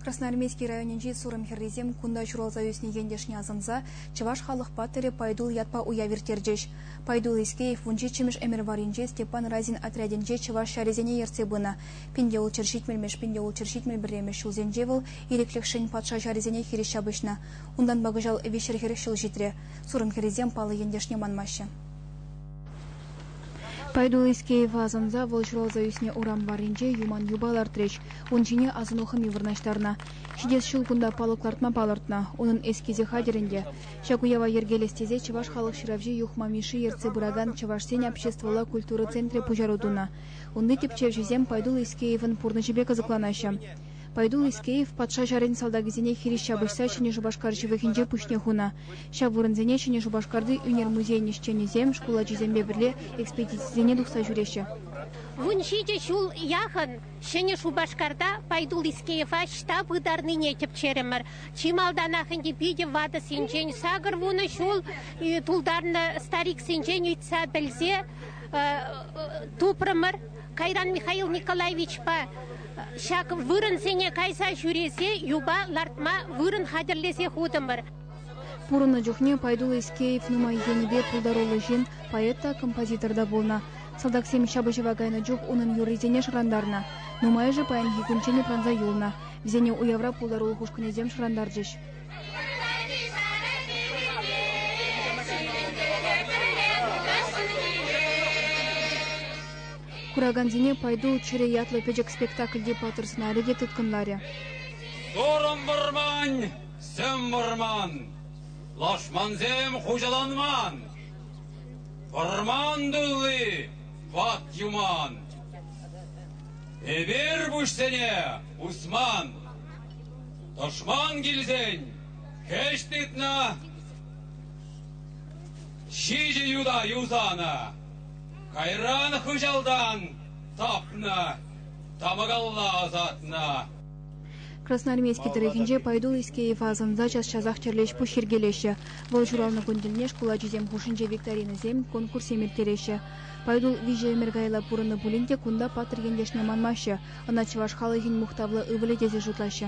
Красноармейски районӗнчи Сурӑм хӗррисем кунта ҫуралса ӳснӗ ентешне асӑнса чӑваш халӑхпа тӗрӗ Пайтул ятпа уяв ирттерчӗҫ. Пайтул Искеев вунҫиччӗмӗш ӗмӗр варринче Степан Разин отрядӗнче чӑваш ҫарӗсене ертсе пынӑ. Пинте улчӑр ҫитмӗлмӗш, пинте улчӑр ҫитмӗл пӗрремӗш ҫулсенче вӑл ирӗклӗхшӗн патша ҫарӗсене хирӗҫ ҫапӑҫнӑ. Унтанпа кӑҫал виҫҫӗр хӗрӗх ҫул ҫитрӗ. Сурӑм хӗррисем паллӑ ентешне манмаҫҫӗ. Пайтуллискеева асӑнса вӑл ҫуралса ӳснӗ урам варринче юман юпа лартрӗҫ. Ун ҫине асӑну хӑми вырнаҫтарнӑ. Ҫитес ҫул кунта палӑк лартма палӑртнӑ. Унӑн эскизӗ хатӗр ӗнтӗ. Ҫак уява йӗркелес тесе Чӑваш халӑх ҫыравҫи Юхма Мишши ертсе пыракан Чӑвашсен обществӑлла культура центрӗ пуҫару тунӑ. Унти тӗпчевҫӗсем Пайтулл Искеевӑн пурнӑҫӗпе кӑсӑкланаҫҫӗ. Пайтул Искеев патша ҫарӗн салтакӗсене хирӗҫ ҫапӑҫса Ҫӗнӗ Шупашкар ҫывӑхӗнче пуҫне хунӑ. Ҫав вырӑнсене Ҫӗнӗ Шупашкарти ӳнер музейӗн ӗҫченӗсем, шкул ачисемпе пӗрле экспедицисене тухса ҫӳреҫҫӗ. Вун ҫичӗ ҫул яхӑн Ҫӗнӗ Шупашкарта Пайтул Искеева ӑҫта пытарнине тӗпчерӗмӗр. Чи малтанах ӗнтӗ питӗ ватӑ синчен сакӑр вунӑ ҫул тултарнӑ стариксенчен ыйтса пӗлсе тупрӑмӑр. Кайран Михаил Николаевичпа ҫак вырӑнсене кайса ҫӳресе юпа лартма вырӑн хатӗрлесе хутӑмӑр. Пурӑннӑ чухне Пайдул Искеев нумай енӗпе пултаруллӑ ҫын, поэт та, композитор та пулнӑ. Салтаксем ҫапӑҫӑва кайнӑ чух унӑн юррисене шӑрантарнӑ. Нумайӑшӗ паянхи кунччен упранса юлнӑ. Вӗсене уявра пултарулӑх ушкӑнӗсем шӑрантарчӗҫ. Куракансене «Пойду чӗрӗ» ятлӑ пӗчӗк спектакльти паттӑр сӑнарӗ те тыткӑнларӗ. Турӑм вӑрман, сӗм вӑрман, лашмансем хуҫаланман. Вӑрман тулли ват юман. Эпир пуҫсене усман. Тӑшман килсен хӗҫ тытнӑ, ҫичӗ юта юсанӑ. Кайран хыҫалтан тапнӑ, тапӑкалла ӑсатнӑ. Красноармейски тӑрӑхӗнче Пайду Искеева асӑнса час-часах тӗрлӗ ӗҫ-пуҫ йӗркелеҫҫӗ. Вӑл ҫуралнӑ кун тӗлне шкул ачисем хушшинче викторинӑсем, конкурссем ирттереҫҫӗ. Пайдул виҫӗ ӗмӗр каялла пурӑннӑ пулин те кунта паттӑр ентешне манмаҫҫӗ, ӑна чӑваш халӑхӗн мухтавлӑ ывӑлӗ тесе шутлаҫҫӗ.